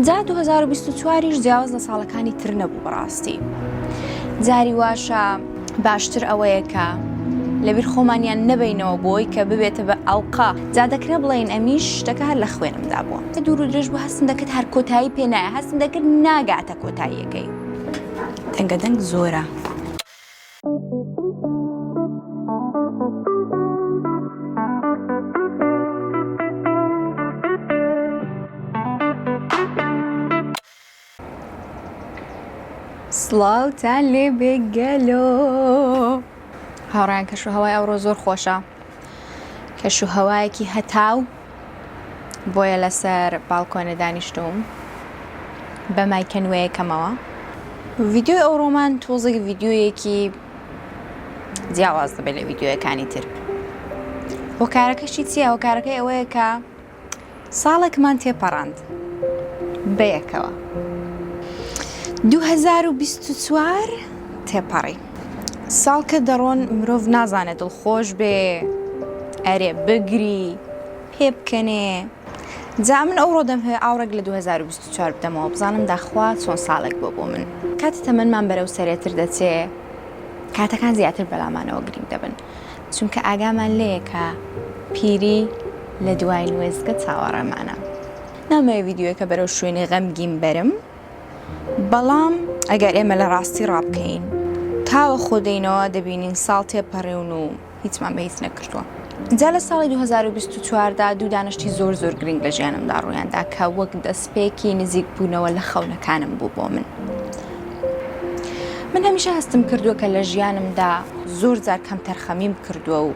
جا دوو هەزار و بیست و چواریش جیاواز لە ساڵەکانی تر نەبوو بەڕاستی جاری واشە باشتر ئەوەیە کە لەبیر خۆمانیان نەبینەوە بۆی کە ببێتە بە ئەڵقا جا دەکرێ بڵێن ئەمیش شتەکە هەر لە خوێنمدا بووە دوور و درێژ بۆ هەستم دەکرد هەر کۆتایی پێنایە هەستم دەکرد ناگاتە کۆتاییەکەی دەنگە دەنگ زۆرە. سڵاوتان لێ بێ گەلۆ هاوڕیان کەش و هەوای ئەوڕۆ زۆر خۆشە کەشوهەوایەکی هەتاو بۆیە لەسەر باڵکۆنە دانیشتووم بە مایکە نوێیەکەمەوە ڤیدیۆی ئەو ڕۆمان تۆزێک ڤیدیۆیەکی جیاواز دەبێت لە ڤیدیۆیەکانی تر هۆکارەکەشی چییە هۆکارەکەی ئەوەیە کە ساڵێکمان تێپەڕاند بەیەکەوە دوو هەزار و بیست و چوار تێپەڕی ساڵ کە دەڕۆن مرۆڤ نازانێت دڵخۆش بێ ئەرێ بگری پێ بکەنێ جا من ئەوڕۆ دەمهوێ ئاوڕێک لە دوو هەزار و بیست و چوار بدەمەوە بزانم داخوا چۆن ساڵێک بۆ بۆ من کاتی تەمەنمان بەرەو سەرێتر دەچێ کاتەکان زیاتر بەلامانەوە گرینگ دەبن. چونکە ئاگامان لێیە کە پیری لە دواین وێستگە چاوەڕێمانە. نامەوێ ڤیدیۆیەکە بەرەو شوێنی غەمگین بەرم، بەڵام ئەگەر ئێمە لە ڕاستی ڕا بکەین، تاوە خۆ دێینەوە دەبینین ساڵ تێپەڕیون و هیچمان بە هیچ نەکردووە. جا لە ساڵی دوو هەزار و بیست و چوار دا دوو دانە شتی زۆر زۆر گرینگ لە ژیانمدا ڕوویان دا کە وەک دەسپێکی نزیکبوونەوە لە خەونەکانم بوو بۆ من. من هەمیشە هەستم کردووە کە لە ژیانمدا زۆر جار کەمتەرخەمیم کردووە و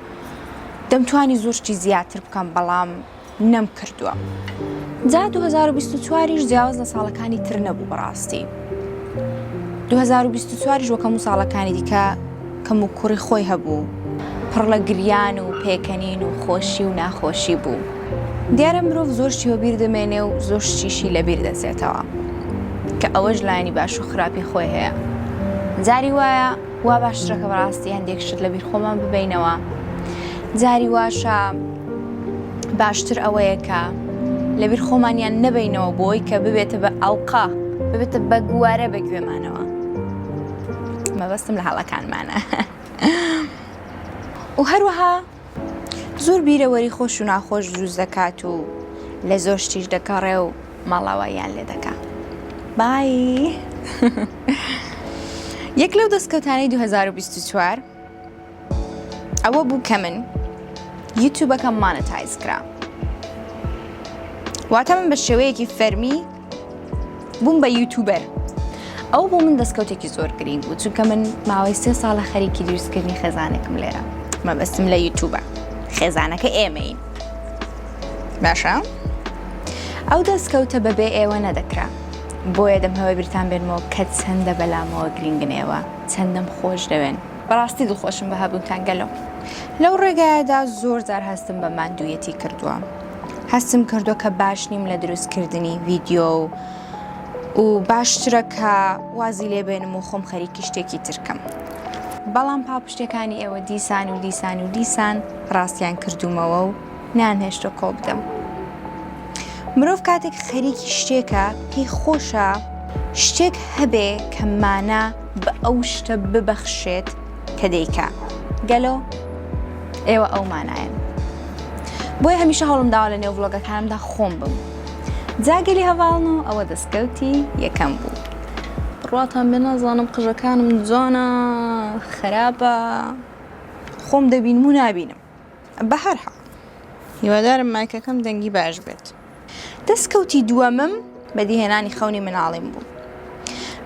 دەمتوانی زۆر شتی زیاتر بکەم بەڵام نەم کردووە. جا 2024 یش جیاواز لە ساڵەکانی تر نەبوو بەڕاستی 2024 یش وەکەموو ساڵەکانی دیکە کەموکوڕی خۆی هەبوو، پڕ لە گریان و پێکەنین و خۆشی و ناخۆشی بوو. دیارە مرۆڤ زۆر شتی وەبیر دەمێنێ و زۆر شتیشی لەبیر دەچێتەوە، کە ئەوەش لایەنی باش و خراپی خۆی هەیە. جاری وایە وا باشترە کە بەڕاستی هەندێک شت لەبیر خۆمان ببەینەوە، جاری واشە باشتر ئەوەیە کە لەبیر خۆمانیان نەبەینەوە بۆ ئەوەی کە ببێتە بە ئەڵقە، ببێتە بە گوارە بە گوێمانەوە. مەبەستم لە هەڵەکانمانە و هەروەها زۆر بیرەوەری خۆش و ناخۆش دروست دەکات و لە زۆر شتیش دەگەڕێ و ماڵاواییان لێ دەکا بای یەک لەو دەستکەوتانەی 2024 ئەوە بوو کە من یوتوبەکەم مانەتایز کرا واتە من بە شێوەیەکی فەرمی بووم بە یوتوبەر ئەو بۆ من دەستکەوتێکی زۆر گرنگ بوو چونکە من ماوەی سێ ساڵە خەریکی دروستکردنی خێزانێکم لێرە مەبەستم لە یوتوبە خێزانەکە ئێمەین باشە ئەو دەستکەوتە بەبێ ئێوە نەدەکرا بۆیە دەم هەوە بیرتان بێنمەوە کە چەندە بەلامەوە گرنگنەوە چەندەم خۆش دەوێن بەڕاستی دڵخۆشم بە هەبوونتان گەلۆ لەو ڕێگایەدا زۆر جار هەستم بە ماندوویەتی کردووە هەستم کردو کە باش نیم لە دروستکردنی ڤیددیو و و باشترە کە وازی لێبێنم و خۆم خەریکی شتێکی ترکەم بەڵام پاڵپشتەکانی ئێوە دیسان و دیسان و دیسان ڕاستیان کردومەوە و نان هێشتە کۆ بدەم مرۆڤ کاتێک خەریکی شتێکە پێی خۆشە شتێک هەبێ کە مانە بە ئەو شتە ببەخشێت کە دەیکا گەلۆ ئێوە ئەو مانایەن بۆیە هەمیشە هەوڵم داوا لە نێو ڤڵۆگەکانمدا خۆم بم جاگەلی هەواڵن و ئەوە دەستکەوتی یەکەم بوو ڕاتان بێ نازانم قژەکانم جوانە خراپە خۆم دەبینم و نابینم بە هەرحاڵ هیوادارم مایکەکەم دەنگی باش بێت دەستکەوتی دووەمم بەدیهێنانی خەونی مناڵیم بوو.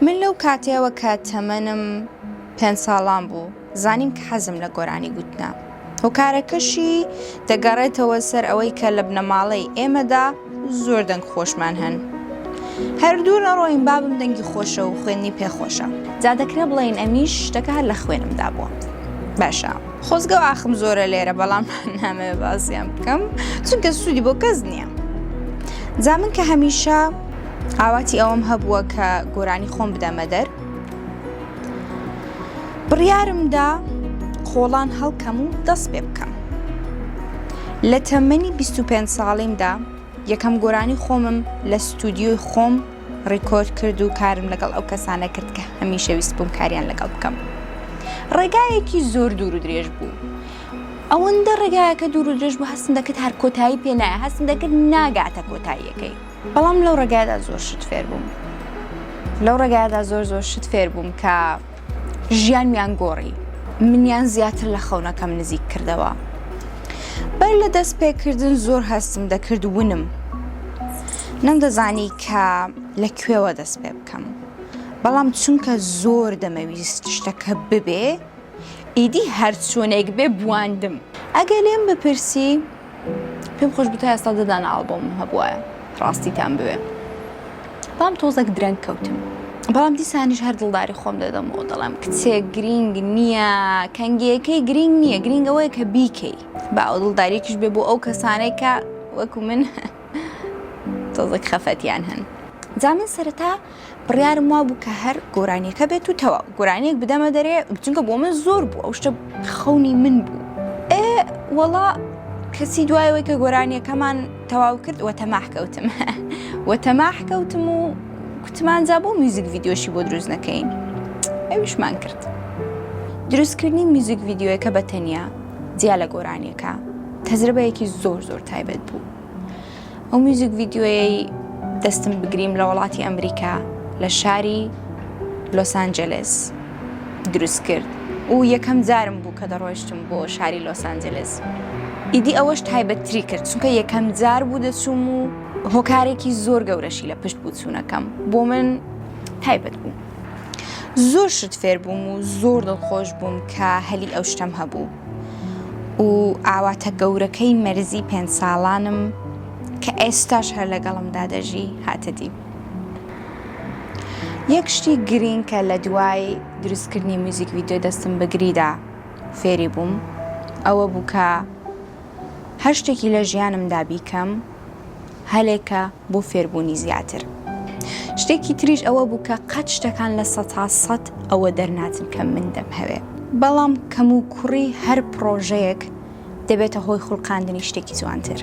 من لەو کاتەوە کە تەمەنم پێنج ساڵان بوو، زانیم کە حەزم لە گۆرانی گوتنە. هۆکارەکەشی دەگەڕێتەوە سەر ئەوەی کە لە بنەماڵەی ئێمەدا زۆر دەنگ خۆشمان هەن. هەر دوور نەڕۆین بابم دەنگی خۆشە و خوێندنی پێ خۆشە. جا دەکرێ بڵێین ئەمیش شتەکە هەر لە خوێنمدا بووە. باشە. خۆزگە و ئاخم زۆرە لێرە بەڵام نامەوێ باسیان بکەم چونکە سوودی بۆ کەس نییە جا من کە هەمیشە ئاواتی ئەوەم هەبووە کە گۆرانی خۆم بدەمە دەر بڕیارمدا خۆڵان هەڵکەم و دەست پێ بکەم لە تەمەنی 25 ساڵیمدا یەکەم گۆرانی خۆمم لە ستودیۆی خۆم ڕیکۆرد کرد و کارم لەگەڵ ئەو کەسانە کرد کە هەمیشە ویست بووم کاریان لەگەڵ بکەم ڕێگایەکی زۆر دوور و درێژ بوو ئەوەندە ڕێگایەکە دوور و درێژ بوو هەستم دەکرد هەر کۆتایی پێ نایە هەستم دەکرد ناگاتە کۆتاییەکەی بەڵام لەو ڕێگایدا زۆر شت فێر بووم لەو ڕێگایدا زۆر زۆر شت فێر بووم کە ژیانمیان گۆڕی، منیان زیاتر لە خەونەکەم نزیک کردەوە. بەر لە دەستپێکردن زۆر هەستم دەکرد ونم. نەمدەزانی کە لە کوێوە دەست پێ بکەم. بەڵام چونکە زۆر دەمەویست شتەکە ببێ، ئیدی هەرچۆنێک بێ بواندم. ئەگەر لێم بپرسی، پێم خۆش بوو تا ئێستا دە دانە ئاڵبۆمم هەبوایە ڕاستیتان بوێ بام تۆزەک درەنگ کەوتم بەڵام دیسانیش هەر دڵداری خۆم دەدەمەوە دەڵێم کچێک گرینگ نییە کەنگیەکەی گرینگ نییە گرینگەوەی کە بیکەی با ئەو دڵداریکیش بێ بۆ ئەو کەسانەی کە وەکو من تۆزەک خەفەتیان هەن جا من سەرەتا بڕیارم وابوو کە هەر گۆرانیەکە بێت و تەواو گۆرانیەک بدەمە دەرێ چونکە بۆ من زۆر بوو ئەو شتە خەونی من بوو ئێ وەڵا کەسی دوایەوەی کە گۆرانیەکەمان تەواو کرد وە تەماح کەوتم وە تەماح کەوتم و کوتمانجا بۆ میوزیک ڤیددیۆشی بۆ دروست نەکەین ئەویشمان کرد دروستکردنی میوزیک ڤیددیۆیەکە بە تەنیا جیا لە گۆرانیەکە تەجربەیەکی زۆر زۆر تایبەت بوو ئەو میوزیک ڤیدیۆیەی دەستم بگریم لە وڵاتی ئەمریکا لە شاری لۆسانجلس دروست کرد و یەکەم جارم بوو کە دەڕۆشتم بۆ شاری لۆسانجلس ئیدی ئەوەش تایبەتتری کرد چونکە یەکەم جار بوو دەچوم و هۆکارێکی زۆر گەورەشی لە پشت بووچوونەکەم بۆ من تایبەت بوو زۆر شت فێر بووم و زۆر دڵخۆش بووم کە هەلی ئەو شتەم هەبوو و ئاواتە گەورەکەی مەرزی پێنج ساڵانم کە ئێستاش هەر لەگەڵمدا دەژی هاتە دی. یەک شتی گرینگ کە لە دوای دروستکردنی میوزیک ڤیدیۆ دەستم بەگریدا فێری بووم ئەوە بوو کە هەر شتێکی لە ژیانمدا بیکەم، هەلێکە بۆ فێربوونی زیاتر. شتێکی تریش ئەوە بوو کە قەت شتەکان لە سەتا سەت ئەوە دەرناچن کە من دەمهەوێ. بەڵام کەموکوڕی هەر پڕۆژەیەک دەبێتە هۆی خولقاندنی شتێکی جوانتر.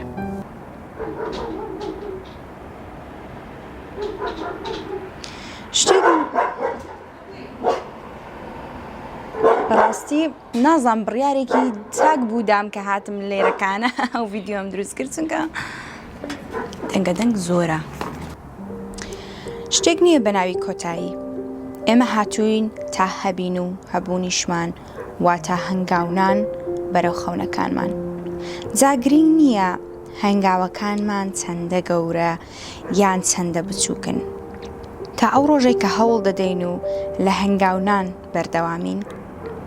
شتێکی بەڕاستی. نازام بڕیارێکی چاک بوو دام کە هاتم لێرەکانە ئەو ڤیددیۆم دروست کرد چونکە دەنگە دەنگ زۆرە شتێک نییە بە ناوی کۆتایی ئێمە هاتووین تا هەبین و هەبوونیشمان واتە هەنگاونان بەرەو خەونەکانمان جاگرنگ نییە هەنگاوەکانمان چەندە گەورە یان چەندە بچووکن تا ئەو ڕۆژێک کە هەوڵ دەدەین و لە هەنگاونان بەردەوامین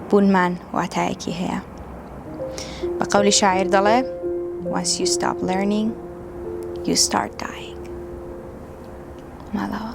بوونمان واتایەکی هەیە بە قەولی شاعیر دەڵێ Once you stop learning you start dying ماڵەوە